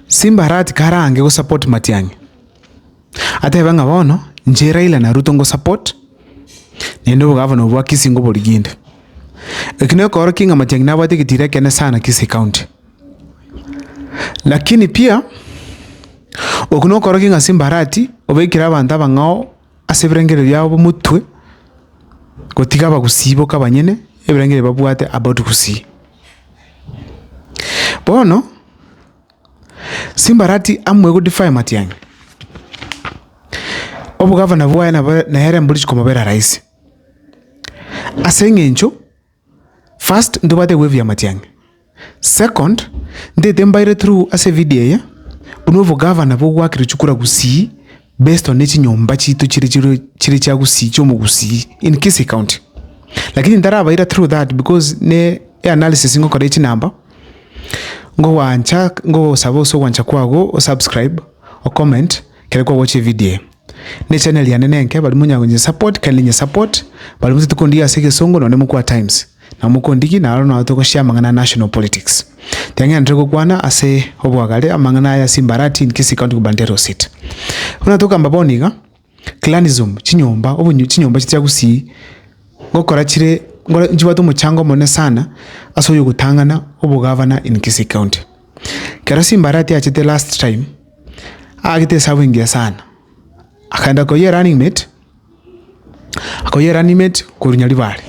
Simba arati karange go support Matiang'i. Atebe ng'a bono inche Raila na Ruto ngo support naende obogavana obo bwa Kisii ngoboriginde. Eki nekoorokia ng'a Matiang'i nabwate egetiro ekenene sana Kisii county. Lakini pia oku nokoorokia ng'a Simba arati obeekire abanto abang'ao. ase ebirengererio biabo b'omotwe, gotiga abagusii boka banyene ebirengererio babwate about gusii. Bono, simbarati amwe egodefaya matiang'i, obogavana bwaye nabo nere mbori chikomobera rahisi, ase eng'encho First ntibwate gwevia amatiang'i. Second ntaete mbaire through ase evideo eye buna obogavana bogoakire chikura Gusii based on echinyomba chiaito chire chire chire chia Gusii chia omogusii in Kisii county. Lakini ntarabaira through that because ne eanalysis ngokora ya chinamba ngogwancha ngogosaba ase ogwancha kwago o subscribe o comment ekero kwagocha evideo eye. Nechannel yane nenke baria monyara konye support kindly nye support baria motete kondigia ase egesongo nonye mokwa times nabo mokondigi naro nao togoshare amang'ana a national politics teng'enete gokwana ase obwagare amang'ana aya ase imbarati in kisii county gubernatorial seat buna tokamba bono iga clanism chinyomba obonyu chinyomba chichia gusii gokora chire ngore nchibwate omochango omonene sana ase oyogotang'ana obogavana in kisii county. Kero Simbarati achete last time, aagete esabu engiya sana, akaenda koyia erunning mate, akoyia erunning mate korwa Nyaribare.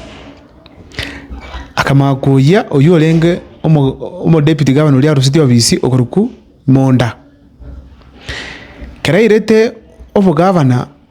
Akamanya koyia oywo orenge omo omo deputy governor oria arusetie obisi okorokwa Monda. Kero airete obogavana.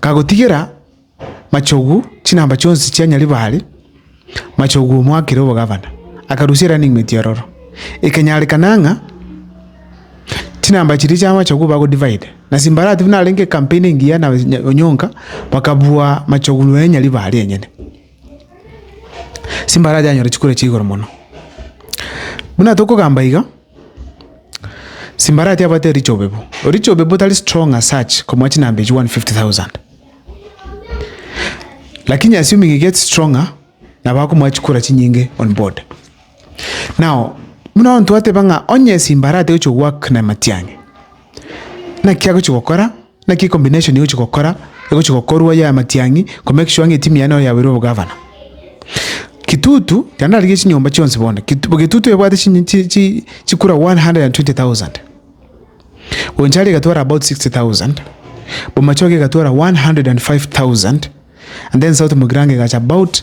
Kagotigera Machogu chinamba chionsi chia Nyaribari, Machogu omoakire obogavana, akarusia Running Mate ororo. Ekenyarekana ng'a chinamba chiria chia Machogu bago-divide, na Simbarati buna arenge ecampaign engiya na Onyonka, bakabua Machogu noe Nyaribari enyene. Simbaracha anyore chikura chia igoro mono. Buna tokogamba iga, simbaracha abwate Richo Obebo. Richo Obebo tari strong as such komua chinamba echio one fifty thousand. Lakini assuming he gets stronger, nabo akomoa chikura chinyinge on board. Nao buna onto ateba ng'a onye esimba arate gochia goak na amatiang'i, naki agochia gokora? Naki combination egochia gokora, egochia gokorwa ya amatiang'i ko make sure ng'a etimu yaye nabo yabeire obogavana. Kitutu, ekero ndarigia chinyomba chionsi bono, Kit Getutu ebwate chinyi chi chi chikura one hundred and twenty thousand, Bonchari egatwara about sixty thousand, Bomachoge egatwara one hundred and five thousand, and then South Mugirango egacha about.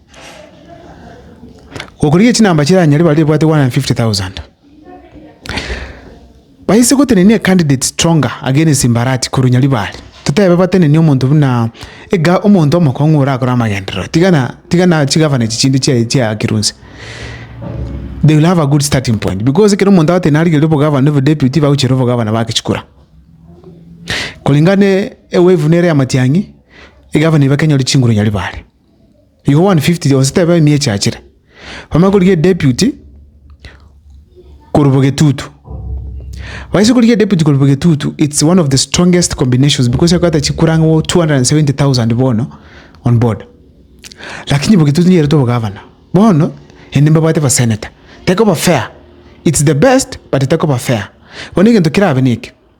Gokorigia chinamba chiranyare baria ebwate 150,000. Baise gotenenia ecandidate stronger against Mbarati korwa Nyaribari. Totebe batenenie omonto buna ega omonto omokong'u orakore amagenderero. Tigana tigana chigavana echi chinde chia chia Kironsi. They will have a good starting point because ekero omonto agotenena arigerie obogavana na obodeputy bagochira obogavana bake chikura. Koringa ne ewave nere ya Matiang'i, egavana eba kenyore chinguru Nyaribari. Igo 150 yonsi tebe ime echachire. Bamanye korigia edeputy korwa bo getutu. Baise korigia edeputy korwa bo getutu, it's one of the strongest combinations because egoeta chikura ang'e wo 270,000 bono on board. Lakini bo getutu nigo eretwe obogavana. Bono ende mbabwate baseneta. Tekoba fair. It's the best but tekoba fair. Bono egento kerabe neke.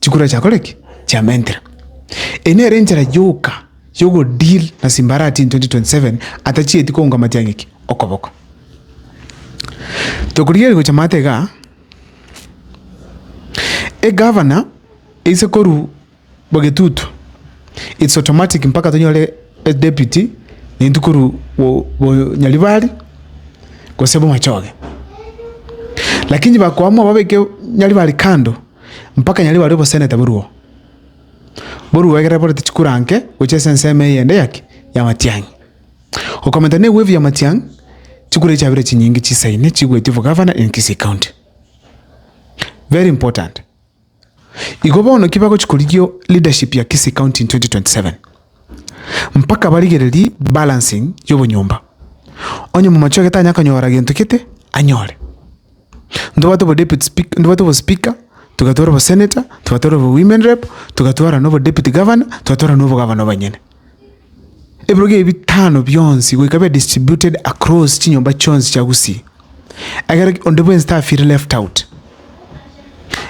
chikura chiakore ki? Chiamentire. Eye nere enchera yoka yogodeal na simbarati in 2027 atachieti kounga matiang'i ki? Okoboko. Tokorigereria gocha maate igaa, egavana eise korwa Bogetutu. It's automatic mpaka tonyore e deputy naintwe korwa bo- bonyaribari gose bomachoge. Lakini bakoamua babeke nyaribari kando mpaka nyaribari oboseneta boruo, boruo egere borente chikura nke gochia ase ensemo eyende ya ki? Ya matiang'i. Okomenta ne wave ya matiang'i, chikura echi chiabire chinyinge chisaine chigoetwe for governor in Kisii county. Very important. Igo bono ki bagochia korigia leadership ya Kisii County in 2027? Mpaka barigererie balancing y'obonyomba. Onye Mumachoge tanya konyora gento gete, anyore. Ntobwate obo deputy speaker, ntobwate obo speaker, togatwara obo senator, togatwara obo women rep, togatwara nobo deputy governor, togatwara nobo governor banyene. ebirogo ebi bitano bionsi goika bibe distributed across chinyomba chionsi chia Gusii, ekero onde bwensi tafeeli left out,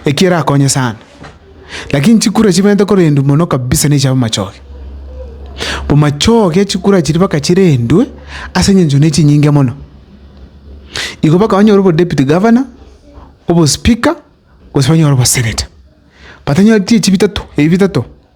eki erakonye sana. Lakini chikura chibente korendwa mono kabisa nechi chi'amachoge. Amachoge chikura chiria mpaka chirendwe ase eng'encho ne chinyinge mono. Igo mpaka onyore obo deputy governor, obo speaker, gose onyore obo senator. But onye echio chibitato, ebi bitato.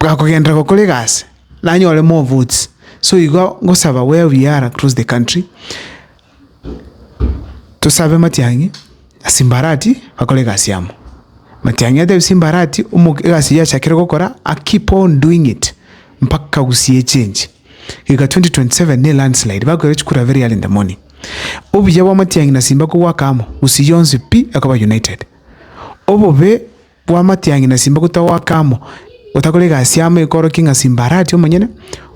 bwakogenderera gokora egasi, nanyore more votes, so igo ngosaba where we are across the country, tosabe matiang'i na simbarati bakore egasi amo. Matiang'i atebi simbarati omoke egasi eyio achakire gokora a keep on doing it mpaka agusie echenji. Iga twenty twenty seven na elandslide bakoira chikura very early in the morning. Obuya bwa matiang'i na simba kobwaka amo, gusii yonsi pi ekoba united. Obobe. Bwa amatiang'i na simba gotagwa goaka amo, gotakora egasi amo ekorokia ng'a simba aratie omonyene,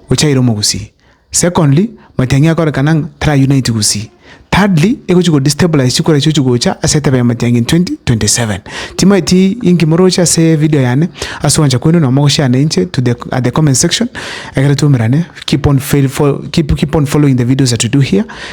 gochia aire omogusii. Secondly, matiang'i akorekana ng'a tara unite gusii. Thirdly, egochia go destabilize chikura chiochi gocha ase etebe ya matiang'i in 2027. Timaeti inki moroche ase evideo yane, ase ogwancha kweino nabo mogoshare na inche to the at the comment section, ekero twaumerane, keep on fail fo keep keep on following the videos that we do here.